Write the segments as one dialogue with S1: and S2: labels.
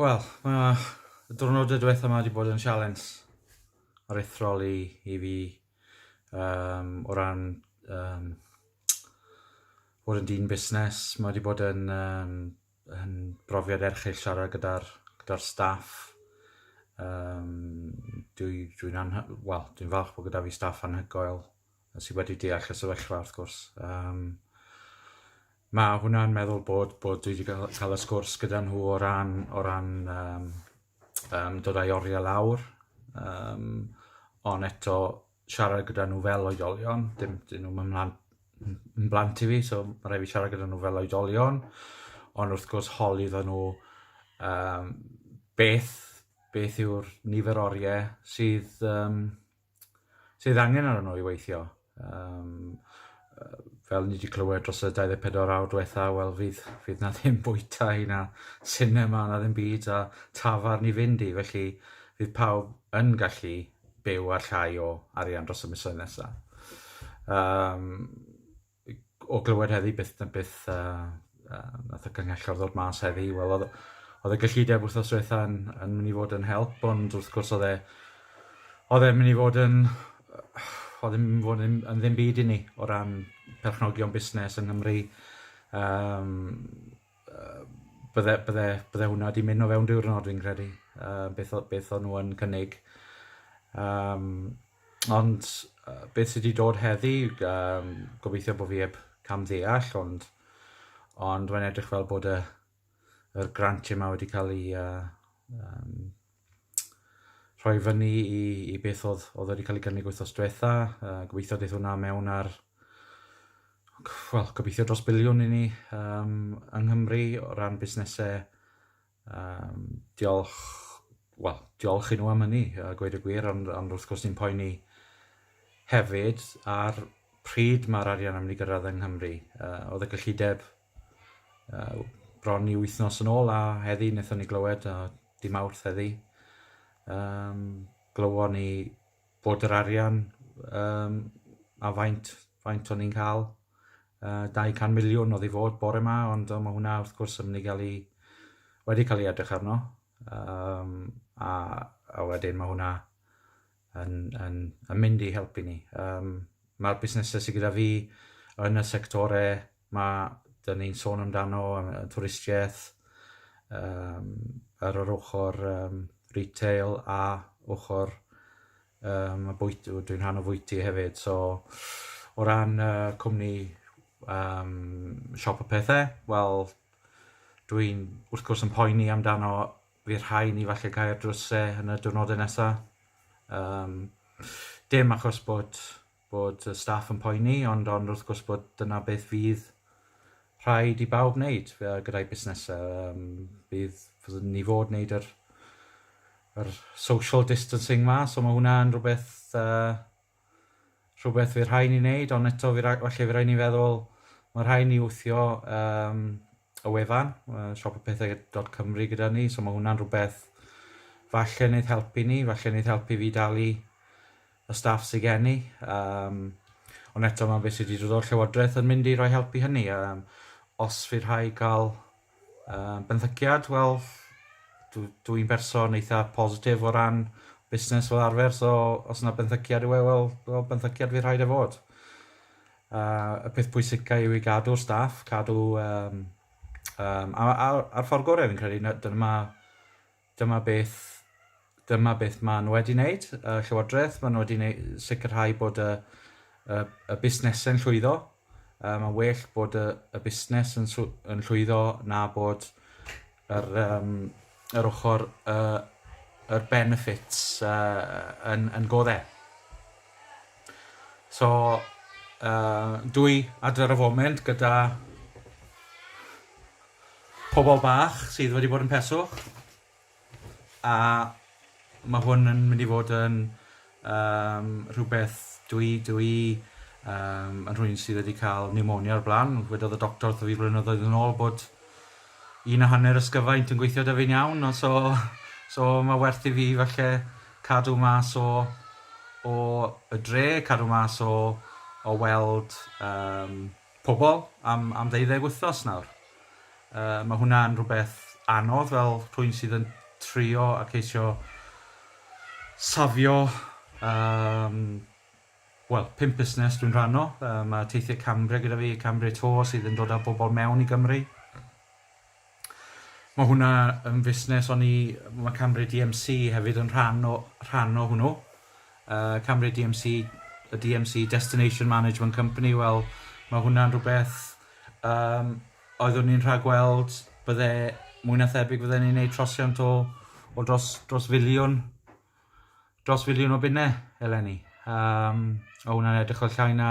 S1: Wel, mae y diwrnodau diwetha yma wedi bod yn sialens aruthrol i, i fi um, o ran um, bod yn dyn busnes. Mae wedi bod yn, um, yn brofiad erchill siarad gyda'r gyda staff. Um, Dwi'n dwi, dwi, well, dwi falch bod gyda fi staff anhygoel. a sydd wedi deall y sefyllfa wrth gwrs. Um, mae hwnna'n meddwl bod, bod dwi wedi cael, cael y sgwrs gyda nhw o ran, o ran um, um, dod â'i oriau lawr, um, ond eto siarad gyda nhw fel oedolion, dim, dyn nhw'n ymlaen yn blant i fi, so mae rhaid fi siarad gyda nhw fel oedolion, ond wrth gwrs holi dda nhw um, beth, beth yw'r nifer oriau sydd um, sydd angen arno nhw i weithio. Um, fel ni wedi clywed dros y 24 awr diwetha, wel fydd, fydd na ddim bwyta i na cinema na ddim byd a tafar ni fynd i, felly fydd pawb yn gallu byw ar llai o arian dros y misoedd nesaf. Um, o glywed heddi byth na byth a, a nath y cynghellor ddod mas heddi, wel oedd oedd y gyllideb wrthnos diwetha yn, yn mynd i fod yn help, ond wrth gwrs oedd e oedd e'n mynd i fod yn oedd e'n mynd i fod yn, yn ddim byd i ni o ran perchnogion busnes yng Nghymru. Um, bydde bydde bydde hwnna 'di mynd o fewn diwrnod fi'n credu yy beth o- beth o'n nw yn cynnig. Yym ond yy beth sy 'di dod heddi yym gobeithio bo' fi 'eb cam ddeall ond ond rwy'n edrych fel bod y yr grant yma wedi ca'l 'i yy yym rhoi fyny i, i beth oedd, oedd wedi cael ei gynnig wythnos diwetha. Uh, gobeithio daeth hwnna mewn ar wel, gobeithio dros biliwn i ni um, yng Nghymru o ran busnesau. Um, diolch, wel, diolch i nhw am hynny, a gweud y gwir, ond, ond wrth gwrs ni'n poeni hefyd ar pryd mae'r arian yn mynd i gyrraedd yng Nghymru. Uh, oedd y gyllideb uh, bron i wythnos yn ôl a heddi wnaethon ni glywed a di mawrth heddi um, glywon ni bod yr arian um, a faint, faint o'n ni'n cael uh, 200 miliwn oedd i fod bore yma ond mae hwnna wrth gwrs yn mynd i gael ei wedi cael ei edrych arno um, a, a wedyn mae hwnna yn, yn, yn mynd i helpu ni. Um, Mae'r busnesau sydd gyda fi yn y sectorau mae dyn ni'n sôn amdano, y twristiaeth, um, ar yr ochr um, retail a ochr um, y bwyt, dwi'n rhan o fwyty hefyd. So, o ran uh, cwmni um, siop y pethau, wel, dwi'n wrth gwrs yn poeni amdano Fydd rhai ni falle cael ar drws e yn y diwrnodau nesaf. Um, dim achos bod, bod y staff yn poeni, ond, ond wrth gwrs bod dyna beth fydd rhaid i bawb wneud gyda'i busnesau. Um, bydd, bydd ni fod wneud yr, yr social distancing ma, so mae hwnna yn rhywbeth uh, Rhywbeth fydd rhai ni wneud, ond eto fi ra- falle fy rai ni feddwl, mae rhai ni wthio um, y wefan, uh, siopapethau.cymru gyda ni, so mae hwnna'n rhywbeth falle wneud helpu ni, falle wneud helpu fi dalu y staff sy'n gen i. Um, ond eto mae beth sydd wedi dod o'r Llywodraeth yn mynd i roi helpu hynny. Um, os fydd rhai gael Uh, benthyciad, wel, dwi'n dwi berson eitha positif o ran busnes fel arfer, so os yna benthyciad yw e, wel, well, benthyciad fi rhaid e fod. Uh, y peth pwysicau yw i gadw'r staff, cadw... Um, um, a, a, a'r ffordd gorau fi'n credu, dyna mae Dyma beth, dyma beth maen nhw wedi wneud, y Llywodraeth, maen nhw wedi wneud, sicrhau bod y, y, y busnesau'n llwyddo. Um, mae'n well bod y, y busnes yn, yn llwyddo na bod yr, um, yr ochr uh, yr benefits uh, yn, yn goddau. So, uh, dwy adfer y foment gyda Pobol bach sydd wedi bod yn peswch, a ma' hwn yn mynd i fod yn yym rhywbeth dwi dwi yym yn rhywun sydd wedi ca'l pneumonia o'r bla'n, wedodd y doctor wrtho fi flynyddoedd yn ôl bod un a hanner ysgyfaint yn gweithio 'da fi'n iawn, o so so ma' werth i fi falle cadw mas o o y dre, cadw mas o o weld yym pobl am am ddeuddeg wythnos nawr. Yy ma' hwnna'n rhywbeth anodd fel rhywun sydd yn trio a ceisio safio yym wel pump busnes dwi'n rhan o, yy ma' Teithio Cambria gyda fi, Cambria Tour sydd yn dod â bobl mewn i Gymru. Mae hwnna yn fusnes o'n i... Mae Cambria DMC hefyd yn rhan o rhan o hwnnw. Uh, Cambria DMC, y DMC Destination Management Company, wel, mae hwnna'n rhywbeth um, oeddwn i'n rhagweld bydde mwy na thebyg fydden ni'n neud trosiant o, o dros, dros filiwn dros filiwn o bunne eleni. Um, o hwnna'n edrych o llai na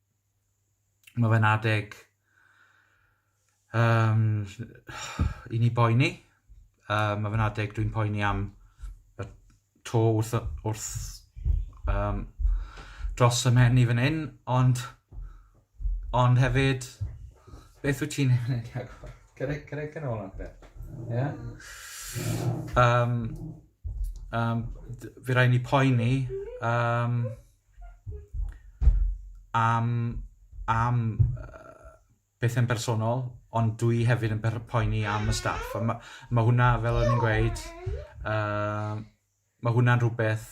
S1: Mae fe'n adeg um, i ni boeni. Um, mae fe'n adeg dwi'n poeni am y to wrth, wrth um, dros y mhen i fan hyn, ond, ond hefyd, beth wyt ti'n ei wneud? Cyrraedd, cyrraedd yn ôl adre. Ie? Um, um, fi rai ni poeni um, am am yy bethe'n bersonol ond dwi hefyd yn per- poeni am y staff a ma' ma' hwnna fel o'n i'n gweud yy ma' hwnna'n rhwbeth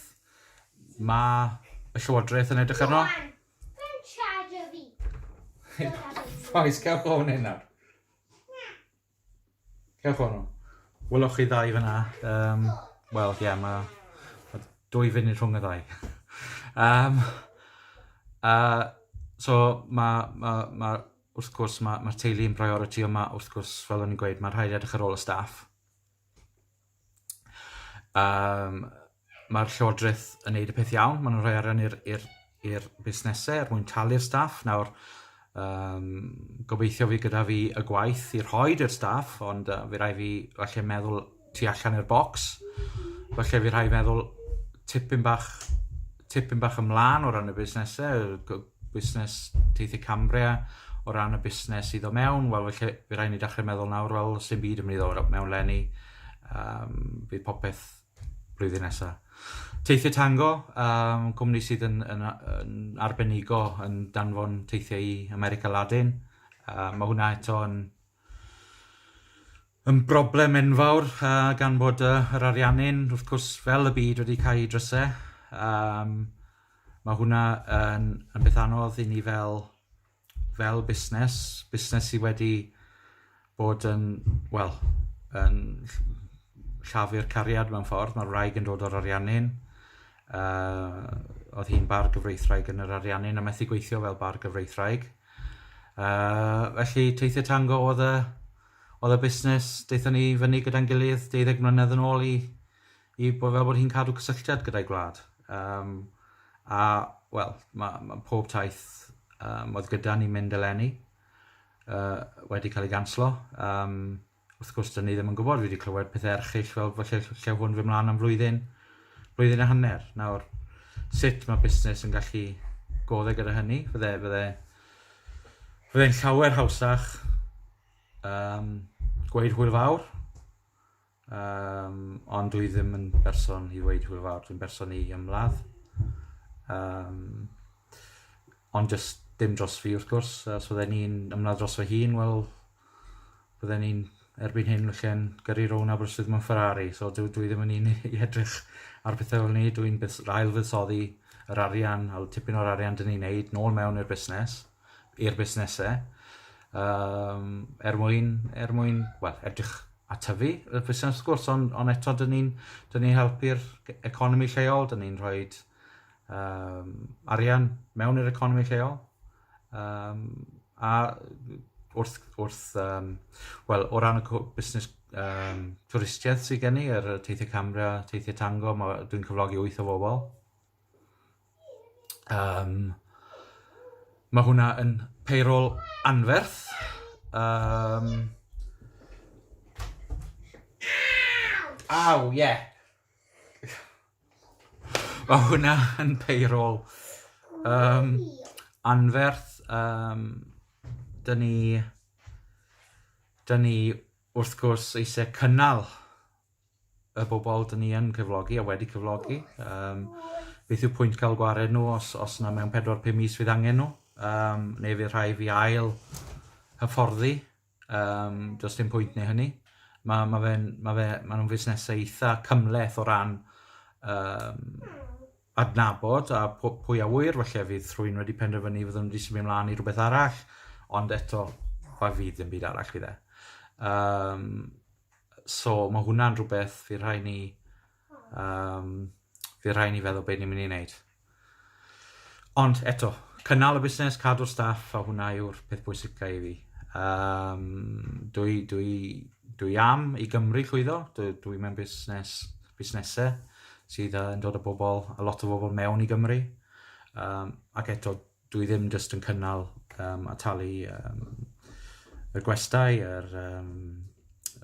S1: ma' y Llywodraeth yn edrych arno. Rŵan, Oes, cer o fan hyn nawr. Cewch hwnnw. Welwch chi ddau fyna. Um, Wel, ie, yeah, mae ma dwy funud rhwng y ddau. um, uh, so, mae ma, ma wrth gwrs, mae'r ma teulu yn priority, ond mae wrth gwrs, fel o'n i'n gweud, mae rhaid edrych ar ôl y staff. Yym mae'r Llywodraeth yn gwneud y peth iawn, maen nhw'n rhoi arian i'r i'r i'r busnesau er mwyn talu'r staff. Nawr yym gobeithio fydd gyda fi y gwaith i rhoid i'r staff ond yy fy' raid fi falle meddwl tu allan i'r bocs. Falle fy' rhai' feddwl tipyn bach tipyn bach ymlân o ran y busnesau yy g- busnes teithio Cambria o ran y busnes sydd o mewn, wel felly fe rhaid ni dechrau meddwl nawr, wel sy'n byd yn mynd i ddod mewn lenni, um, bydd popeth blwyddyn nesaf. Teithio Tango, um, cwmni sydd yn, yn, yn arbenigo yn danfon teithiau i America Latin, um, mae hwnna eto yn Un broblem enfawr gan bod yr ariannu'n, wrth cwrs, fel y byd wedi cael ei drysau, yym mae hwnna yn yn beth anodd i ni fel fel busnes, busnes sydd wedi bod yn, wel, yn llafu'r cariad mewn ffordd, mae'r wraig yn dod o'r ariannu'n, oedd hi'n bargyfreithwraig yn yr ariannu'n a methu gweithio fel bargyfreithwraig, felly teithio tango oedd y... Oedd y busnes, daethon ni i fyny gyda'n gilydd deuddeg mlynedd yn ôl i i bo- fel bod hi'n cadw cysylltiad gyda'i gwlad. Yym a wel ma' ma' pob taith yym oedd gyda ni mynd eleni yy wedi cael ei ganslo. Yym wrth gwrs 'dyn ni ddim yn gwbod, fi 'di clywed pethe erchyll fel bo' lle ll- llew hwn fyn' mlan am flwyddyn blwyddyn a hanner. Nawr sut ma' busnes yn gallu go'dd e gyda hynny? Fydde fydde Fyddai'n llawer hawsach um, gweud hwyl fawr, um, ond dwi ddim yn berson i weid hwyl fawr, dwi'n berson i ymladd. Um, ond just dim dros fi wrth gwrs, os fydden ni'n ymladd dros fy hun, wel, bydden ni'n erbyn hyn felly'n gyrru rown Aberystwyth mewn Ferrari. So dwi, dwi ddim yn un i edrych ar pethau fel ni. Dwi'n ail fuddsoddi yr arian, a tipyn o'r arian dyn ni'n neud, nôl mewn i'r busnes, i'r busnesau, um, er mwyn, er mwyn, well, edrych a tyfu y busnes wrth gwrs, ond on eto dyn ni'n ni helpu'r economi lleol, dyn ni'n rhoi um, arian mewn i'r economi lleol. Um, a wrth, wrth um, wel, o ran y busnes um, twristiaeth sydd gen i, yr er teithiau camera, teithiau tango, dwi'n cyflogi wyth o bobl. Um, mae hwnna yn payroll anferth. Um, Aw, ie. Yeah. Mae hwnna yn payroll. Um, anferth, um, dyn ni, dyn ni wrth gwrs eisiau cynnal y bobl dyn ni yn cyflogi a wedi cyflogi. Um, beth yw pwynt cael gwared nhw os, os yna mewn 4-5 mis fydd angen nhw, um, neu fydd rhai fi ail hyfforddi Um, does dim pwynt neu hynny. Mae ma fe, ma fe, ma nhw'n fusnesau eitha cymleth o ran um, adnabod a pwy a wyr, felly fydd rhywun wedi penderfynu fydd nhw'n wedi symud ymlaen i rhywbeth arall, ond eto, pa fydd ddim byd arall fydd e. Um, so mae hwnna'n rhywbeth fydd rhai ni Um, fe rhaid ni feddwl beth ni'n mynd i wneud. Ond eto, cynnal y busnes, cadw'r staff, a hwnna yw'r peth bwysicau i fi. Um, dwi, dwi, dwi am i Gymru llwyddo, dwi, dwi mewn busnes, busnesau sydd yn dod o bobl, a lot o bobl mewn i Gymru. Um, ac eto, dwi ddim jyst yn cynnal um, a talu um, y gwestai, yr, um,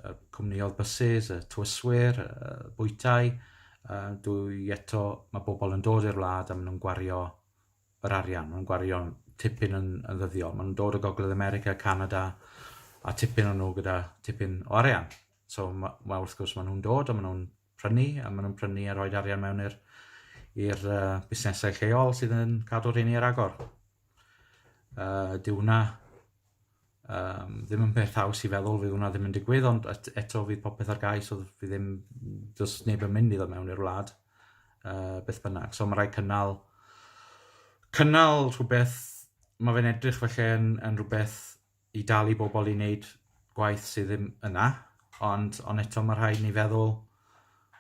S1: y cwmniodd bysus, y tywyswyr, y bwytau. Uh, dwi eto, mae bobl yn dod i'r wlad a maen nhw'n gwario yr arian, maen nhw'n gwario tipyn yn, yn ddyddiol. Maen nhw'n dod o Gogledd America, Canada, a tipyn o'n nhw gyda tipyn o arian. So mae, ma, wrth gwrs maen nhw'n dod a maen nhw'n prynu, a maen nhw'n prynu a rhoi arian mewn i'r i'r uh, busnesau lleol sydd yn cadw'r rheini ar agor. Uh, dyw hwnna um, ddim yn peth haws i feddwl, fydd hwnna ddim yn digwydd, ond et, eto fydd popeth ar gais, oedd fydd ddim, does neb yn mynd iddo mewn i'r wlad, uh, beth bynnag. So mae rhaid cynnal, cynnal rhywbeth, mae fe'n edrych felly yn, yn rhywbeth i dal i bobl i wneud gwaith sydd ddim yna, ond ond eto mae rhaid ni feddwl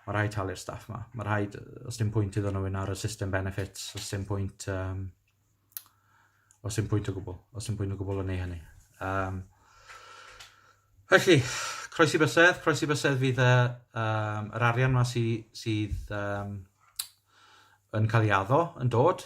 S1: mae rhaid talu'r staff yma. Mae rhaid, os dim pwynt iddyn nhw un ar y system benefits, os dim pwynt um, os dim pwynt o gwbl, os dim pwynt o gwbl yn ei hynny. Um, felly, croesi bysedd, croesi bysedd fydd y, um, yr arian yma sydd, sydd um, yn cael ei addo yn dod,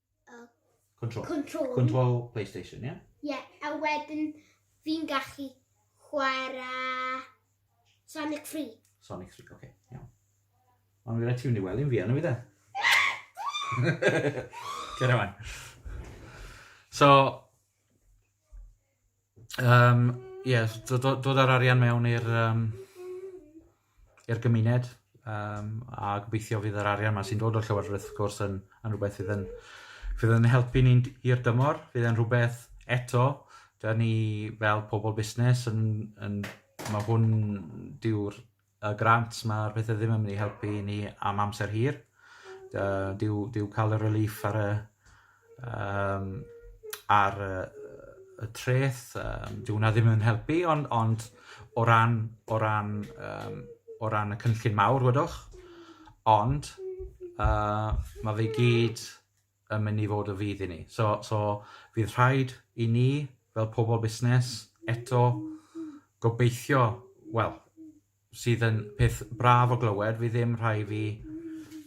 S2: Uh, control. Control.
S1: Control PlayStation, ie? Yeah? Ie, yeah, a wedyn
S2: fi'n gallu chwarae Sonic 3. Sonic 3, oce, okay,
S1: iawn. Ond fi'n rhaid ti fynd i wely yn fi, anna fi dde? Cera man. So, Yym ie s- do- do- dod â'r arian mewn i'r yym i'r gymuned yym a gobeithio fydd yr arian 'ma sy'n dod o'r llywodraeth wrth gwrs yn yn rwbeth fydd yn fydd yn helpu ni'n d- hir dymor, fydd e'n rhwbeth eto 'dan ni fel pobol busnes yn yn ma' hwn dyw'r y grant, mae'r pethau ddim yn mynd i helpu i ni am amser hir. Uh, dyw, dyw cael y relief ar y, um, ar y, y treth, um, dyw hwnna ddim yn helpu, ond, ond o ran, o ran, um, o ran y cynllun mawr, wedwch, ond uh, mae fe gyd yn mynd i fod o fudd i ni. So, so fydd rhaid i ni, fel pobl busnes, eto gobeithio, wel, sydd yn peth braf o glywed, fi ddim rhai fi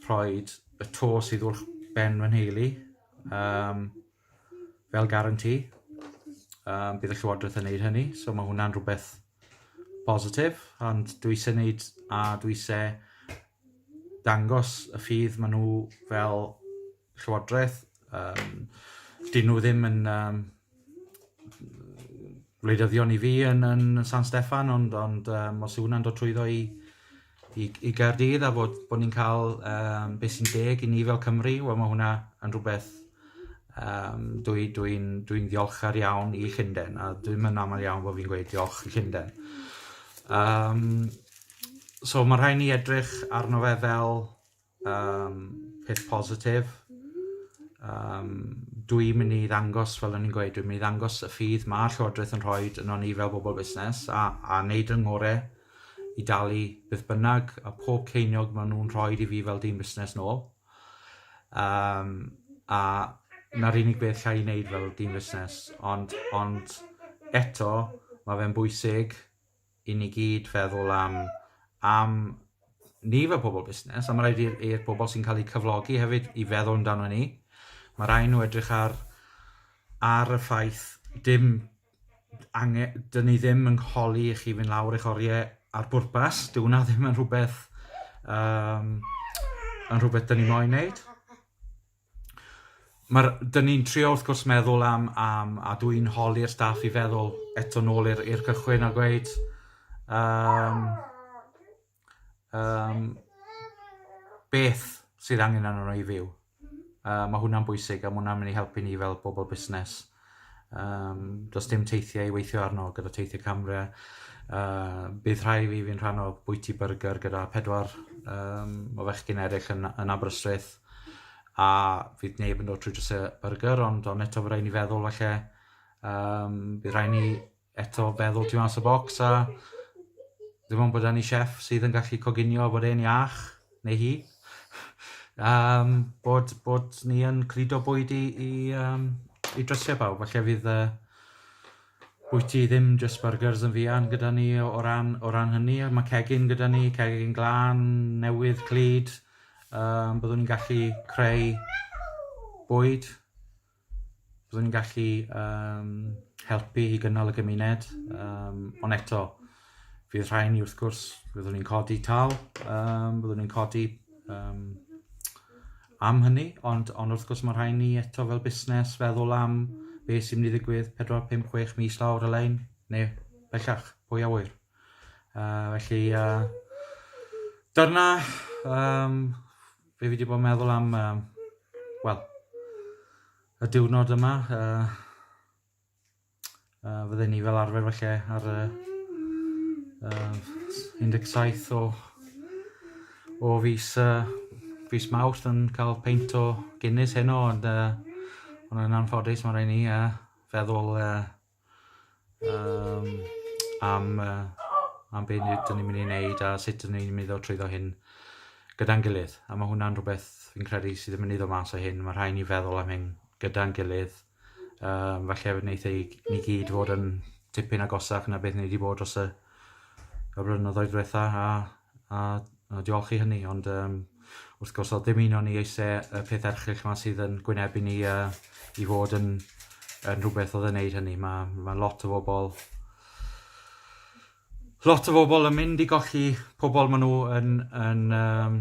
S1: rhoi y to sydd wrth ben fy nheulu um, fel garanti. Um, bydd y Llywodraeth yn gwneud hynny, so mae hwnna'n rhywbeth positif, ond dwi eisiau gwneud a dwi eisiau dangos y ffydd maen nhw fel llywodraeth. Um, dyn nhw ddim yn um, wleidyddion i fi yn, yn San Steffan, ond, ond um, os yw hwnna'n dod trwyddo i, i, i Gaerdydd a bod, bod ni'n cael um, beth sy'n deg i ni fel Cymru, wel mae hwnna yn rhywbeth um, dwi'n dwi, dwi, ddiolchgar iawn i Llundain, a dwi'n mynd aml iawn bod fi'n gweud diolch i Llundain. Um, So mae rhaid ni edrych arno fe fel um, peth positif. Um, dwi'n mynd i ddangos, fel o'n i'n gweud, dwi'n mynd i ddangos y ffydd mae Llywodraeth yn rhoi yno ni fel bobl busnes a, a wneud yn ngore i dalu beth bynnag a pob ceiniog maen nhw'n rhoi i fi fel dyn busnes nôl. Um, a na'r unig beth lle i wneud fel dyn busnes, ond, ond eto, mae fe'n bwysig i ni gyd feddwl am am ni fel pobl busnes, a mae'n rhaid i'r i'r bobl sy'n cael eu cyflogi hefyd i feddwl amdano ni. Mae rhai nhw edrych ar ar y ffaith dim angen, dyn ni ddim yn holi i chi fynd lawr eich oriau ar bwrpas. Dyw hwnna ddim yn rhywbeth, um, yn rhywbeth dyn ni moyn wneud. Mae'r... Dyn ni'n trio wrth gwrs meddwl am, am a dw i'n holi'r staff i feddwl eto nôl i'r i'r cychwyn a gweud um, um, beth sydd angen arno i fyw. Uh, mae hwnna'n bwysig a mae hwnna'n mynd i helpu ni fel bobl busnes. Yym, does dim teithiau i weithio arno gyda teithiau camre. Uh, bydd rhai fi fi'n rhan o bwyty byrgyr gyda pedwar um, o fechgyn eraill yn, yn Aberystwyth. A fydd neb yn dod trwy drysau byrgyr, ond ond eto fe rhaid ni feddwl falle um, bydd rhaid ni eto feddwl tu fas y bocs a dim ond bod 'da ni chef sydd yn gallu coginio bod e'n iach, neu hi, um, bod, bod ni yn cludo bwyd i, i, um, i drysiau bawb. Felly fydd uh, bwyty ddim just burgers yn fuan gyda ni o, o, ran, o ran hynny. Mae cegin gyda ni, cegin glan, newydd, clyd. Um, byddwn ni'n gallu creu bwyd Byddwn ni'n gallu um, helpu i gynnal y gymuned, um, ond eto, fydd rhai ni wrth gwrs, byddwn ni'n codi tal, um, byddwn ni'n codi um, am hynny, ond, ond wrth gwrs mae rhai ni eto fel busnes feddwl am be sy'n mynd i ddigwydd 4, 5, 6 mis lawr y lein, neu bellach, pwy a wyr. Uh, felly, uh, dyna um, Fi wedi bod yn meddwl am, um, wel, y diwrnod yma. Uh, uh, fydde ni fel arfer felly ar y uh, 17 o, o fus, uh, fus mawrth yn cael peint o Guinness heno, ond uh, ond yn anffodus mae rhaid ni uh, feddwl uh, um, am, uh, am beth dyn ni'n mynd i wneud a sut dyn ni'n mynd o trwyddo hyn gyda'n gilydd. A mae hwnna'n rhywbeth fi'n credu sydd yn mynd i ddod mas o hyn. Mae rhai ni feddwl am hyn gyda'n gilydd. Um, falle fe wneud ei ni gyd fod yn tipyn agosach na beth ni wedi bod dros y, y blynyddoedd diwetha a A, a diolch i hynny ond yym wrth gwrs oedd dim union ni eisiau y peth erchyll yma sydd yn gwynebu ni a i fod yn yn rhywbeth oedd yn wneud hynny. Mae, mae lot o bobl lot o bobl yn mynd i golli pobl maen nhw yn, yn, um,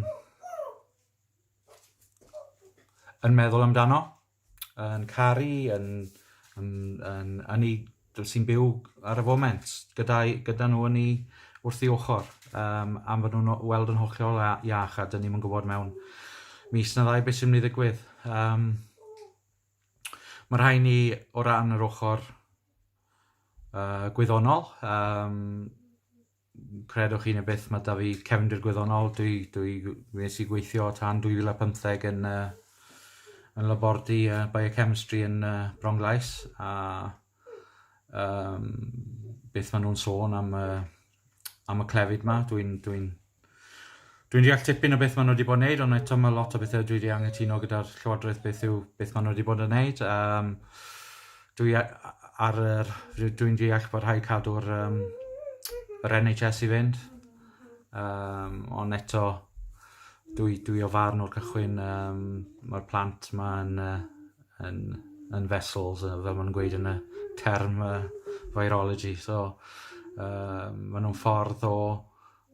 S1: yn meddwl amdano. yn caru, yn, yn, yn, yn ei, sy'n byw ar y foment gyda, gyda nhw yn ei wrth ei ochr um, am fod nhw'n weld yn hollol iach a dyn ni'n gwybod mewn mis na ddau beth sy'n mynd i ddigwydd. Um, mae rhai ni o ran yr ochr uh, gwyddonol, um, Credwch chi neu byth, mae 'da fi cefndir gwyddonol. Dwi, dwi, nes i gweithio tan 2015 yn, uh, yn labordy uh, biochemistry yn uh, Bronglais, a um, beth maen nhw'n sôn am, uh, am y clefyd yma. Dwi'n dwi, Dwi'n deall tipyn o beth maen nhw wedi bod yn wneud ond eto mae lot o bethau dwi wedi anghytuno gyda'r Llywodraeth beth yw beth maen nhw wedi bod yn wneud. Um, dwi ar yr, dwi'n deall bod rhaid cadw'r um, yr NHS i fynd. Um, ond eto, dwi, dwi o farn o'r cychwyn, um, mae'r plant mae'n uh, yn, yn vessels, uh, fel mae'n gweud yn y term uh, virology. So, uh, maen nhw'n ffordd o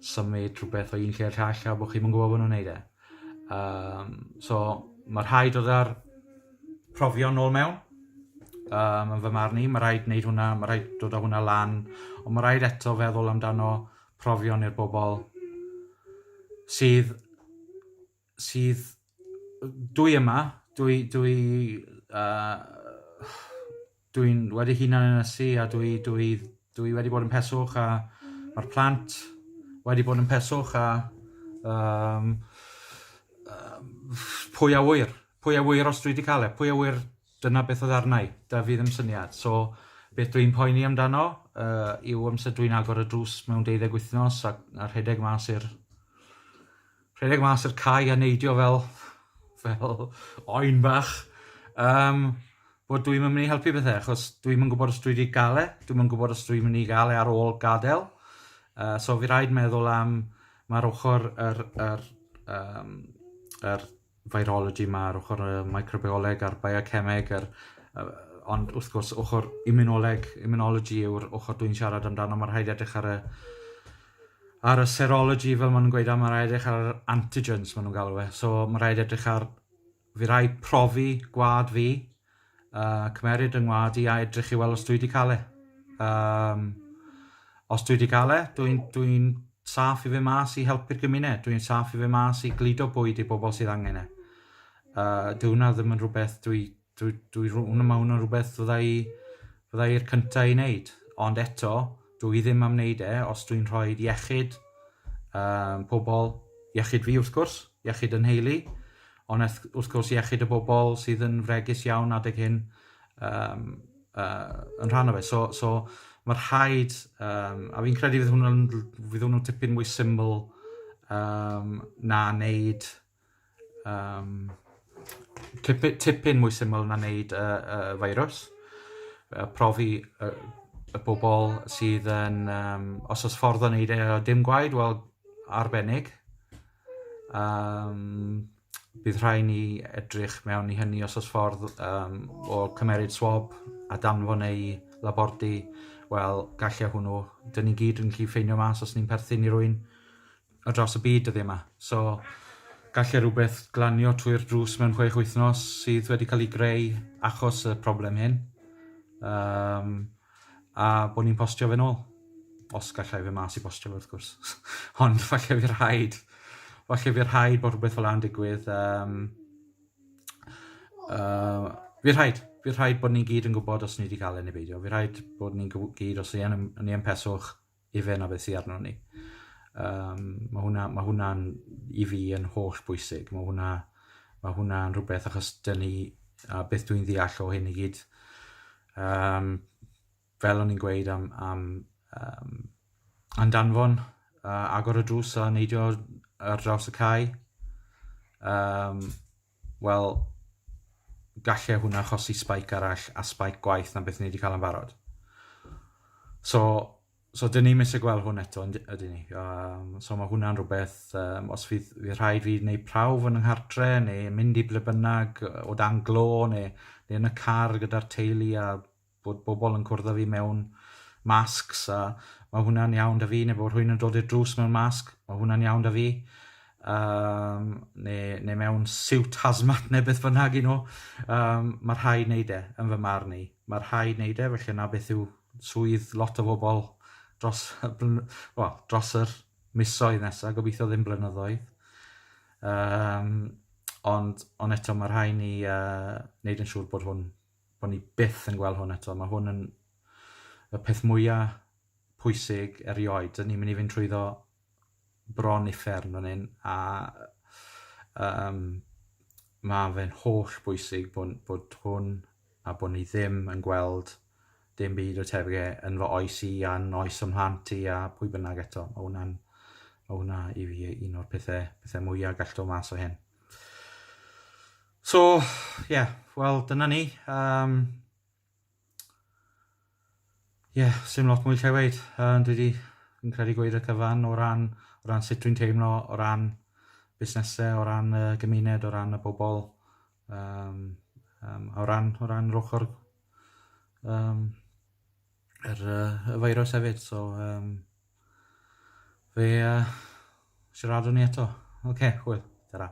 S1: symud rhywbeth o un lle i'r llall a bod chi'm yn gwybod bod nhw'n neud e. Um, so, mae rhaid oedd ar profion nôl mewn, um, yn fy marn i. Mae rhaid wneud hwnna, mae rhaid dod â hwnna lan, ond mae rhaid eto feddwl amdano profion i'r bobl sydd sydd... dwi yma, dwi... dwi... dwi'n wedi hunan ynysu a dwi... dwi... dwi wedi bod yn peswch a ma'r plant wedi bod yn peswch a yym pwy a ŵyr, pwy a ŵyr os dwi 'di cael e, pwy a ŵyr dyna beth oedd arna i, 'da fi ddim syniad. So beth dwi'n poeni amdano yw amser dwi'n agor y drws mewn deuddeg wythnos a rhedeg mas i'r Rhedeg mas i'r cae a neidio fel, fel oen bach. Um, bod dwi'n mynd i helpu bethau, achos dwi'n mynd gwybod os dwi wedi gael e, dwi'n mynd gwybod os dwi'n mynd i gael e ar ôl gadael. Uh, so fi rhaid meddwl am mae'r ochr yr, yr, um, yr virology yma, yr ochr y microbioleg a'r biocemeg, yr, uh, ond wrth gwrs ochr immunoleg, immunology yw'r ochr dwi'n siarad amdano, mae rhaid edrych ar y ar y serology fel maen nhw'n gweud, a mae'n rhaid edrych ar yr antigens maen nhw'n galw e. So mae'n rhaid edrych ar, fi rai profi gwad fi, uh, cymeryd yng ngwad i a edrych i weld os dwi wedi cael e. Um, os dwi wedi cael e, dwi'n dwi, dwi saff i fe mas i helpu'r gymuned, dwi'n saff i fe mas i gludo bwyd i bobl sydd angen e. Uh, dwi hwnna ddim yn rhywbeth dwi dwi, dwi, hwnna mae hwnna'n rhywbeth fydda i, fydda i'r cyntaf i wneud. Ond eto, dwi i ddim am wneud e os dwi'n rhoi iechyd um, pobl, iechyd fi wrth gwrs, iechyd yn heili, ond wrth gwrs iechyd y bobl sydd yn fregus iawn adeg hyn um, uh, yn rhan o fe. So, so mae rhaid, um, a fi'n credu fydd hwnnw'n hwnnw tipyn mwy syml um, na wneud Um, tipyn, tipyn mwy syml na wneud y, y feirws. Uh, profi y, y bobl sydd yn... Um, os oes ffordd o wneud e o dim gwaed, wel, arbennig. Um, bydd rhai ni edrych mewn i hynny os oes ffordd um, o cymeryd swab a danfon neu labordy, wel, gallai hwnnw. Dyn ni gyd yn gallu ffeindio mas os ni'n perthyn i rwy'n ar draws y byd dyddie ma. So, galle rhywbeth glanio trwy'r drws mewn chwech wythnos sydd wedi cael ei greu achos y problem hyn. Um, a bod ni'n postio fe'n ôl. Os gallai fe mas i postio fe, wrth gwrs. Ond falle fi rhaid, falle fi rhaid bod rhywbeth fel a'n digwydd. Um, uh, fi rhaid, fi rhaid bod ni gyd yn gwybod os ni wedi cael ei neu beidio. Fi rhaid bod ni'n gyd, os ni yn, ni yn peswch, ife na beth sydd arno ni. Um, mae hwnna'n ma hwnna i fi yn holl bwysig. Mae hwnna, ma hwnna yn rhywbeth achos dyn ni, a beth dwi'n ddeall o hyn i gyd, um, fel o'n i'n gweud am, am um, andanfon uh, agor y drws a neidio ar draws y cae. Um, Wel, galle hwnna achosi spike arall a spike gwaeth na beth ni wedi cael yn barod. So, so dyn ni'n eisiau gweld hwn eto, ydyn ni. Um, so mae hwnna'n rhywbeth, um, os fydd, fydd rhaid fi wneud prawf yn ynghartre, neu mynd i ble bynnag, o dan glo, neu, neu yn y car gyda'r teulu a bod bobl yn cwrdd â fi mewn masks a mae hwnna'n iawn 'da fi neu bod rhywun yn dod i'r drws mewn masg, mae hwnna'n iawn 'da fi um, neu, neu mewn siwt hazmat neu beth bynnag un nhw. Um, mae rhai wneud e, yn fy marn i. Mae rhai wneud e, felly yna beth yw swydd lot o bobl dros, well, dros yr misoedd nesaf, gobeithio ddim blynyddoedd. Um, ond, ond eto mae rhai ni uh, wneud yn siŵr bod hwn bod ni byth yn gweld hwn eto. Mae hwn yn y peth mwyaf pwysig erioed. Dyn ni'n mynd i fynd trwyddo bron uffern fan hyn a um, mae fe'n holl bwysig bod, bod hwn a bod ni ddim yn gweld dim byd o tebyg e yn fy oes i a yn oes ym mhlant i a pwy bynnag eto. Mae hwnna'n mae hwnna i fi un o'r pethau, pethau mwyaf gallto mas o hyn. So, ie, wel, dyna ni. Um, Ie, yeah, sy'n lot mwy lle weid. Uh, dwi wedi, fi'n credu gweud y cyfan o ran, o ran sut dwi'n teimlo, o ran busnesau, o ran y uh, gymuned, o ran y bobl, um, um, o ran, o ran yr ochr um, yr, uh, y feirws hefyd. So, um, Fe uh, siaradwn ni eto. Oce, okay, hwyl. Ta-ra.